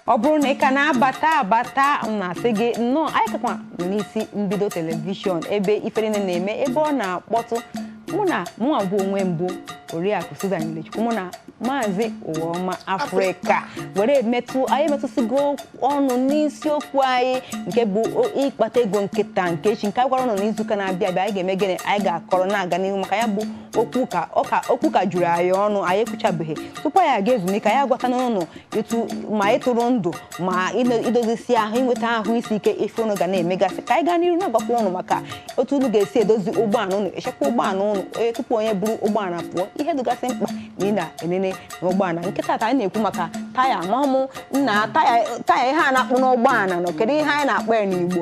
ọ bụrụ na ị ka na-abata abata m na-asị gị nnọọ anyị kakwa nọ n'isi mbido telivishọn ebe ife niile na-eme ebe ọ na-akpọtụ mụ na mụnwa bụ onwe m bụ oriakụ Susan Ilechukwu mụ na maazị ụwaọma afrịka were metụ anyị metụsịgo ọnụ n'isiokwu anyị nke bụ ịkpata ego nke taa nke echi nke a gwara ụnụ n'izuụka na-abịa abịa anyị ga-eme gịnị anyị ga-akọrọ na-aga n'ihu maka ya bụ okwu ka ọka okwu ka juru anyị ọnụ anyị ekwuchabeghị tupu anyị aga ezumike anyị agwatana ụnụ etu ma ịtụrụ ndụ ma ime- idozisi ahụ inweta ahụ isi ike ife ụnụ ga na-emegasị ka anyị gaa n'iru na-agwakwa ụnụ maka otu ụnụ ga-esi edozi ụgbọala ụnụ echekwa ụgbọala ụnụ onye tupu onye buru ụgbọala pụọ ihe dịgasị mkpa na ị na-enene n'ụgbọala nke tata anyị na-ekwu maka taya ma ọmụ nna taya taya ihe a na-akpụ n'ụgbọala nọ kedu ihe anyị na-akpọ ya n'Igbo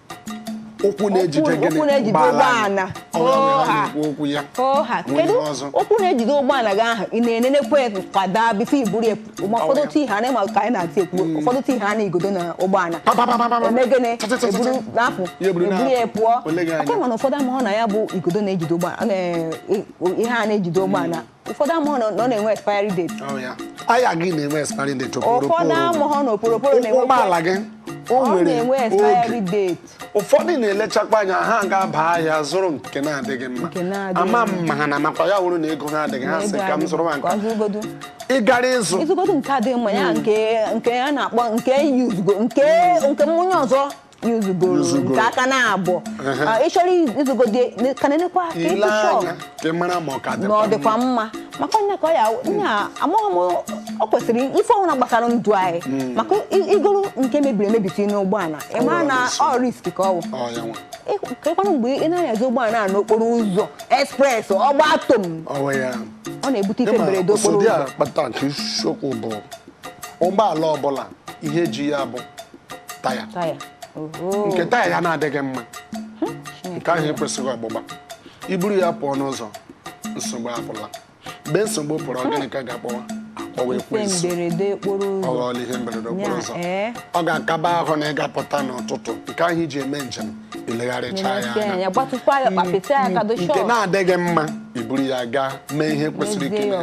ụkwụ na-ejide gịnị ụkwụ na-ejide ụgbọala ọkwa ya kedu ụkwụ na-ejide ụgbọala gị ahụ ị na-enenekwa kwada before i buru ya ma ụfọdụ ti ha na-ema ka anyị na-ati ekwu hmm. ụfọdụ ti ha na igodo na ụgbọala eme gịnị eburu na-apụ eburu ya pụọ aka mana ụfọdụ amahụ na ya bụ igodo na-ejide ụgbọala ihe a na-ejide ụgbọala ụfọdụ amaghị na ọ na-enwe expiry date taya gị na-enwe expiry date ụfọdụ amaghị na oporoporo na-enwe ụgbọala gị o nwere oge ụfọdụ na-elechakwa anya ha ga-aba ahịa zụrụ nke na-adịghị mma ama m ma ha na-amakwa ya wụrụ na ego ha adịghị ha sị ka m zụrụ ma nke a ị gara ịzụ ịzụgodo nke adịghị mma ya hmm. nke a na-akpọ nke yuzugo nke onye ọzọ yuzugoro Yuzugoro. nke aka naabọ Ehe. Ah, ị chọrọ ịzụgodi ka na-enekwa aka ile ịtụ shọp anya ka ị mara ma ọ ka na dịkwa ọ dịkwa mma. mma maka onye ka ọ ya nna amaghị m o kwesịrị ife ọbụla gbasara ndụ anyị maka i- igoro nke mebiri emebi tinye n'ụgbọala ị Ọ mara nwere na isi. ọ risk ka ọ bụ Ọ ya nwa. Ị- keekwanụ mgbe ị na-anyazi ụgbọala a n'okporo ụzọ express ọ gbaa tom Ọ wụ ya. ọ na-ebute ife Ịma mberede okporo ụsodị a ụzọ kpata nke isiokwu bụ ụgbọala ọbụla ihe ji ya bụ taya nke taya ya na-adịghị mma nke ahụ ekwesịghị ọgbụgba i buru ya pụọ n'ụzọ nsogbu apụla mgbe nsogbu pụrụ ọ gịnị ka a ga-akpọwa a kpọwa ekwensu ọ ghọọla ihe mberede okporo ụzọ eh. ọ ga-akaba ahụ na ị ga-apụta n'ụtụtụ nke ahụ i ji eme njem i legharịcha ya anya hmm. nke na-adịghị mma i buru ya gaa mee ihe kwesịrị ime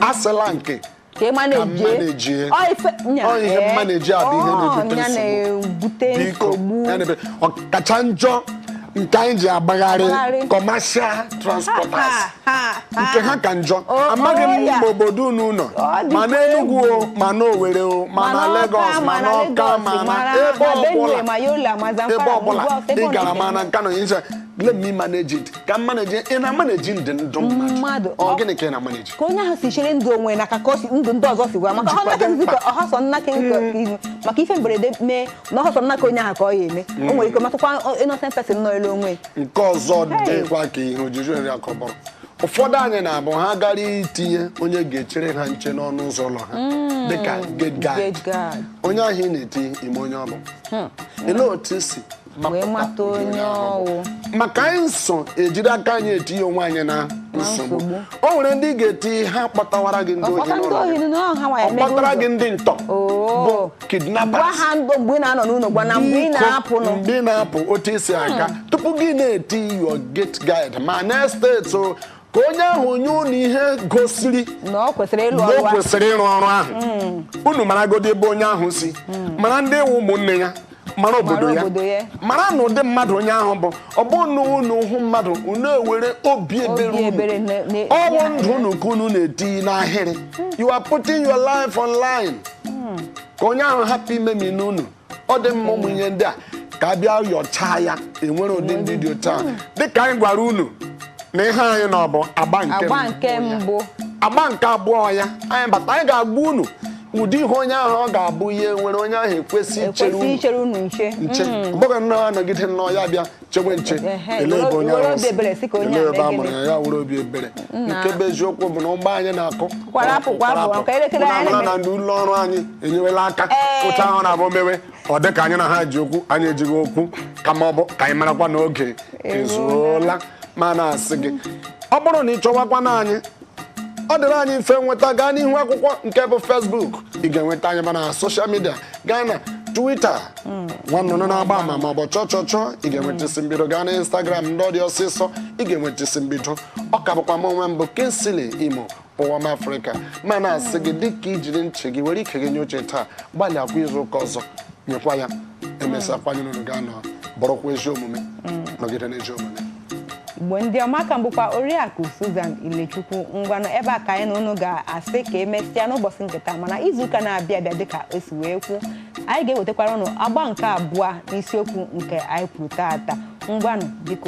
asịla nke ka ị manejie ihe maneji a bụ ihe na-ebute nsogbu ọkacha njọ nke anyị ji agbagharị commercial transporters nke ha ka njọ amaghị m ma obodo unu nọ ma n'Enugu o ma n'Owere o ma na Lagos ma n'Ọka ma na ebe ọbụla ị gara ma na Kano let me manage it ka m manage ị na-amaneji ndị ndụ mmadụ ọ gịnị ka ị na-amaneji ka onye ahụ si chere ndụ onwe na ka ndụ ndị ọzọ si gwa maka ọhasọ nnaka ihu maka ife mberede mee na ọhasọ nnaka onye ahụ ka ọ ya eme mm. o nwere ike metụkwa innocent person nọọlụ onwe nke ọzọ dịkwa ka ihe ojuju nri akọbọrọ ụfọdụ anyị na-abụ ha gara itinye onye ga-echere ha nche n'ọnụ ụzọ ụlọ ha mm. dịka gate guard onye ahụ ị na-eti ị ma onye ọ bụ hmm. otu i si wee mata onye ọ wụ maka anyị nso ejiri aka anyị etinye onwe anyị na nsogbu nsogbu. o nwere ndị ị ga-eti ha kpọtawara gị ndị ohi ọ kpọta ndị n'ụlọ ohi gị. na ọha nwa ya ọ emego kpọtara ụzọ. gị ndị ntọ bụ Oo. gwa kidnappers ha mgbe mgbe ị na-anọ n'ụlọ gwa ha mgbe ị Biko, na-apụnụ mgbe ị na-apụ otu i si aga tupu gị na-eti your gate guard ma n'estate o ka onye ahụ nye unu ihe gosiri na o kwesịrị ịlụ na o ọrụ ahụ. kwesịrị ịrụ ọrụ ahụ unu maragodi ebe onye ahụ si mara ndị wụ ụmụnne ya mara obodo Mara ya obodo ya. mara na ụdị mmadụ onye ahụ bụ ọ bụrụ na unu hụ mmadụ unu ewere obi ebere Obi unu ebere na- na- ọ bụ ndụ unu ka unu na-eti n'ahịrị you are putting your life online ka onye ahụ hapụ imemina unu ọ dị mma ụmụ ihe ndị a ka a bịa yọchaa ya e nwere ụdị ndị dị otu a dịka anyị gwara unu na ihe anyị nọ bụ agba nke agba mbụ nke ya. mbụ agba nke abụọ ya anyị bata anyị ga-agwa unu ụdị ihe onye ahụ ọ ga-abụ ya nwere onye ahụ ekwesị ichere ekwesị unu ichere unu nche nche ọ bụghị nnọọ anọgide nnọọ ya bịa chewe nche Ehe, ele ebe onye were ahụ obi ebere sị ka onye ele a ebe mee a mụrụ gịnị? ya ya were obi ebere nke bụ eziokwu bụ na ugbu a anyị na-akọ Kwara apụ, kwa apụ, nke elekere Mụ na anyị mara na na-eme. ndị ụlọ ọrụ anyị enyewela aka Ee. otu ahụ na-abụ e mewe ọ dị ka anyị na ha ji okwu anyị ejighị okwu kama ọ bụ ka anyị marakwa na oge ezuola ma na-asị gị ọ bụrụ na ị chọwakwanụ anyị ọ dịrị anyị mfe nweta gaa n'ihu akwụkwọ nke bụ Facebook ị ga-enweta anyị ma na social media gaa na Twitter nwa nnụnụ na-agba ama ma ọ bụ chọọ chọọ chọọ ị ga-enweta isi mbido gaa na Instagram ndị ọ dị ọsịsọ ị ga-enweta isi mbido ọ ka bụkwa m onwe m bụ Kingsley Imo ụwa m Afrịka ma na-asị gị dịka i jiri ntị gị were ike gị nye oche taa gbalịakwa izu ụka ọzọ nyekwa ya emesịakwa anyị na unu ga-anọ bụrụkwa ezi omume nọgide n'ezi omume Igbo ndị ọma ka m bụkwa oriakụ Susan Ilechukwu ngwanụ ebe a ka anyị na unu ga-asị ka emesịa n'ụbọchị nke taa mana izuụka na-abịa abịa dịka o si wee kwuo anyị ga-ewetakwara unu agba nke abụọ n'isiokwu nke anyị kwuru taata ngwanụ biko